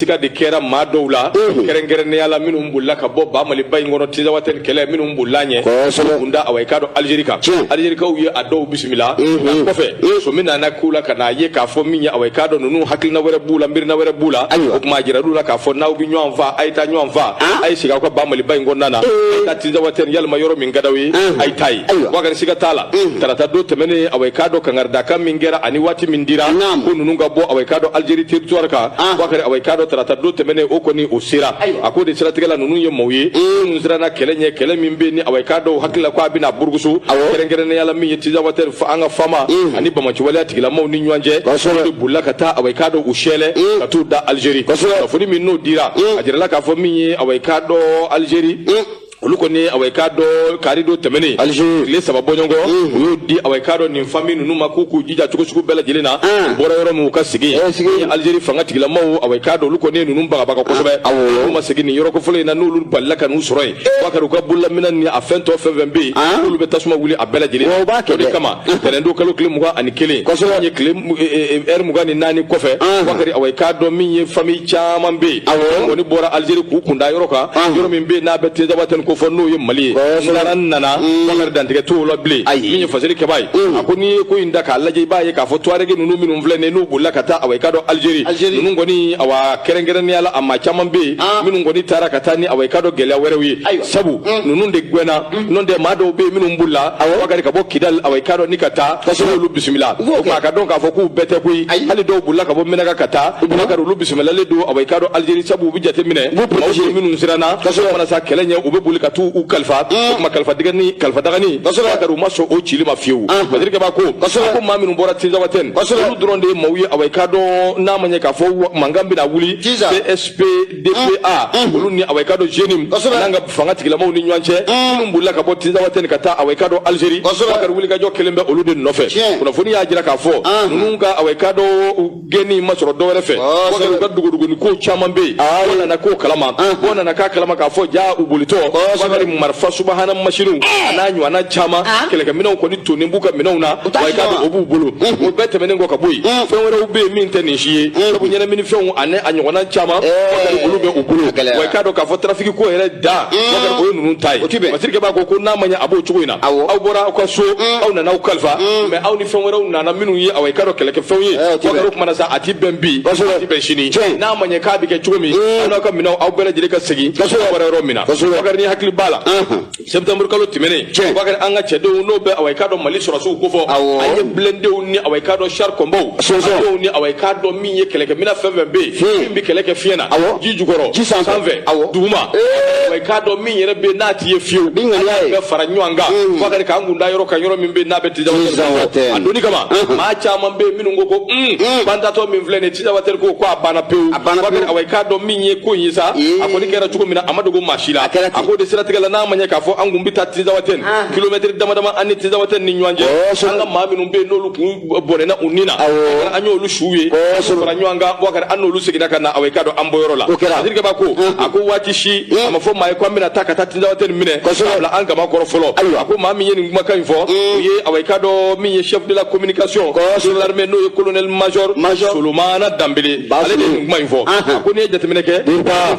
siga de kɛra maa dɔw la kɛrɛnkɛrɛnnenya la minnu bolila ka bɔ ba maliba in kɔnɔ tizawatɛni kɛlɛ minnu bolila ɲɛ k'u kun da awa i k'a dɔn alizeri kan alizerikaw ye a dɔw bisimila nka kɔfɛ sɔmi nana k'u la ka n'a ye k'a fɔ min ye awa i k'a dɔn ninnu hakilina wɛrɛ b'u la miirina wɛrɛ b'u la o tuma a jiral'u la k'a fɔ n'aw bɛ ɲɔgɔn fa a ye taa ɲɔgɔn fa a ye segin aw ka ba maliba in kɔnɔna na a ye taa tizawatɛni walima yɔrɔ min ka d'aw ye a ye taa yen wakari siga t'a la tarata don tɛmɛnen awa i k'a dɔn kangaridakan min kɛra ani waati min dira ko ninnu ka bɔ awa i k'a dɔn alizeri teritwari kan wakari awa i k'a dɔn tarata don tɛmɛnen o kɔni o sera a ko de siratigɛ la ninnu ye maaw ye minnu siranna kɛlɛ ɲɛ kɛlɛ min bɛ ni awa i k'a dɔn u hakili la ko a bɛna burukusu kɛrɛnkɛrɛnnenya la min ye tizawatɛni an ka fama mm. ani banbaanciwaleya tigilamaw ni ɲɔgɔn cɛ de bolila ka taa awa i k'a dɔn u sɛlɛ mm. ka t'u da alizeri kunnafoni min n'o dira mm. a jirala k'a fɔ min ye awa i k'a dɔn alizeri olu kɔni awa i k'a dɔn kari don tɛmɛnen tile saba bɔɲɔgɔnko u y'o di awa i k'a dɔn nin famiyi ninnu ma k'u k'u jija cogo sugu bɛɛ lajɛlen na u bɔra yɔrɔ min u ka segin alizeri fanga tigilamaw awa i k'a dɔn olu kɔni ye ninnu bagabaga kosɛbɛ olu ma segin nin yɔrɔko fɔlɔ in na n'olu balila ka n'u sɔrɔ yen bakari u ka bololaminɛn ni a fɛn tɔ fɛn fɛn bɛ yen n'olu bɛ tasuma wuli a bɛɛ lajɛlen o de kama Tɛnɛn don kalo tile mugan ani kelen in ye lɛrɛ mugan ni naani kɔfɛ wakari awa i k'a dɔn min ye famiyi caman bɛ yen kɔni bɔra alizeri k'u kun da yɔrɔ kan yɔrɔ min bɛ n'a bɛ tizawatɛni kofɔ n'o ye mali kɔnɔna na wakari dantigɛ tulobilen min ye faseri kɛba ye a ko n'i ye ko in da k'a lajɛ i b'a ye k'a fɔ tuareg ninnu minnu filɛ nin n'u bolila ka taa awa i k'a dɔn alizeri ninnu kɔni awa kɛrɛnkɛrɛnnenya la a maa caman bɛ yen minnu kɔni taara ka taa ni awa i k'a dɔn gɛlɛya wɛrɛw ye sabu ninnu de gɛnna n'o tɛ maa dɔw bɛ yen minnu bolila wakari ka bɔ kidali awa i k'a dɔn ni ka taa kosɛbɛ olu bisimila u b'o kɛ o tuma a k'a dɔn k'a fɔ k'u bɛɛ tɛ koyi hali dɔw bolila ka bɔ menaka ka taa wakari olu bisimilalen don awa i k'a dɔn alizeri sabu u bɛ jate minɛ maaw bɛ minnu siranna kosɛbɛ mana sa kɛlɛ ɲɛ u bɛ boli ka t'u u kalifa o tuma kalifa dɛgɛni kalifa dagani kosɛbɛ wakari u ma sɔn o cili ma fiyewu faseri kɛba ko kosɛbɛ ko maa minnu bɔra tinzawatɛni kosɛbɛ olu dɔrɔn de ye maaw ye awa i k'a dɔn n'a ma ɲɛ k'a fɔ mankan bɛna wuli csp DPA olu ni awa i k'a dɔn JNIM kosɛbɛ n'an ka fanga tigilamaw ni ɲɔgɔn cɛ minnu bolila ka bɔ Tinzawatɛni ka taa awa i k'a dɔn Algérie kosɛbɛ Bakari wulikajɔ kelen bɛ olu de nɔfɛ kunnafoni y'a jira k'a fɔ ninnu ka awa i k'a dɔn gɛnni ma sɔrɔ dɔwɛrɛ fɛ Bakari u ka dogodogoni kow caman bɛ yen o nana k'o kalama o nana k'a kalama k'a fɔ jaa u bolitɔ Bakari marifa subahana masiniw an'a ɲɔgɔnna caman kɛlɛkɛminɛnw kɔni tonnen b'u ka minɛnw na awa i k'a dɔn o b'u bolo o bɛɛ tɛmɛnen kɔ ka bɔ yen fɛn wɛrɛw bɛ yen min tɛ nin si ye sabu ɲɛnaminifɛnw ani a ɲɔgɔnna caman wakari olu bɛ u bolo awa i k'a dɔn k'a fɔ tarafiki ko yɛrɛ da wakari o ye ninnu ta ye faseri kɛba ko ko n'a ma ɲɛ a b'o cogo in na aw bɔra aw ka so aw nana aw kalifa mɛ aw ni fɛn wɛrɛw nana minnu ye awa i k'a dɔn kɛlɛkɛfɛnw ye wakari o ko mana sa a ti bɛn bi a ti bɛn sini n'a ma ɲɛ k'a bɛ kɛ cogo min aw n'aw ka minɛnw aw bɛɛ lajɛlen ka segin aw bɔra yɔrɔ min na wakari ni hakili b'a la septembre kalo tɛmɛnen bakari an ka cɛdenw n'o bɛ awa i k'a dɔn mali sɔrɔdasiw kofɔ an ye blindéw ni awa i k'a dɔn char combat ni awa i k'a dɔn min ye kɛlɛkɛminɛn fɛn fɛn bɛ yen hmm. min bɛ kɛlɛ kɛ fiɲɛ na ji jukɔrɔ ji sanfɛ duguma awa i k'a dɔn min yɛrɛ bɛ yen n'a ti ye fiyewu an y'a bɛɛ fara ɲɔgɔn kan hmm. bakari k'an kun da yɔrɔ kan yɔrɔ min bɛ yen n'a bɛ tizawatɛni a donni kama hmm. maa caman bɛ yen minnu ko ko bantatɔ min filɛ nin ye tizawatɛni ko ko a banna pewu bakari awa i k'a dɔn min in ye ko in ye sa a kɔni kɛra cogo min na a ma dogo maa si la a ko de siratigɛ la n'a ma ɲɛ k'a fɔ an kun bɛ taa tizawatɛni ah. kilomɛtiri dama dama an ni tizawatɛni ni ɲɔgɔn cɛ an ka maa minnu bɛ yen n'olu kun bɔnɛna u ni na an y'olu suw ye fara ɲɔgɔn kan bakari an n'olu seginna ka na awa i k'a dɔn an bɔyɔrɔ la dirpa ko a ko waati si a ma fɔ maa ye ko an bɛna taa ka taa tizawatɛni minɛ k'a bila an kaman kɔrɔ fɔlɔ a ko maa min ye nin kumakan in fɔ o ye awa i k'a dɔn min ye chef de la communication de l'armée n'o ye colonel major solomana danbele ale de kuma in fɔ a ko n'i ye jateminɛ kɛ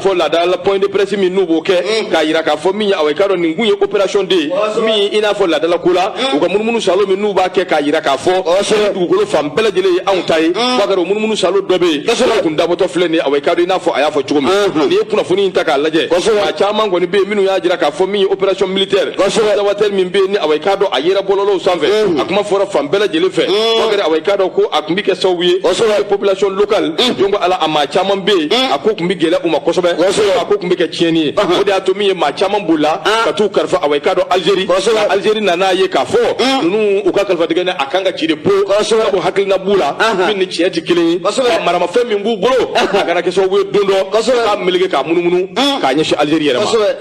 fɔ laadala point de presse min n'u b'o kɛ k'a jira k'a fɔ min ye awa i k'a dɔn nin kun ye opération de ye min i n'a fɔ laadala ko la u ka munumunu salo min n'u b'a kɛ k'a jira k'a fɔ dugukolo fan bɛɛ lajɛlen ye anw ta ye bakari o munumunu salo dɔ bɛ yen o kun dabɔtɔ filɛ nin ye awa i k'a dɔn i n'a fɔ a y'a fɔ cogo min n'i ye kunnafoni in ta k'a lajɛ a caman kɔni bɛ yen minnu y'a jira k'a fɔ min ye opération militaire tizawatɛni min bɛ yen ni awa i k'a dɔn a yera bɔlɔlɔw sanfɛ a kuma fɔra fan bɛɛ lajɛlen fɛ bakari awa i k'a dɔn ko a kun bi kɛ sababu ye population locale jɔn ko ala a maa caman bɛ yen a ko kun bɛ gɛlɛ u ma kosɛbɛ a ko kun bɛ kɛ tiɲɛni ye o de y'a to min ye maa caman bolila ka t'u kalifa awa i k'a dɔn Algérie Algérie nan'a ye k'a fɔ ninnu u ka kalifa tigɛ ni a kan ka ci de po ko hakilina b'u la min ni tiɲɛ tɛ kelen ye maramafɛn min b'u bolo a kana kɛ sababu ye don dɔ k'a meleke k'a munumunu k'a ɲɛsin Algérie yɛrɛ ma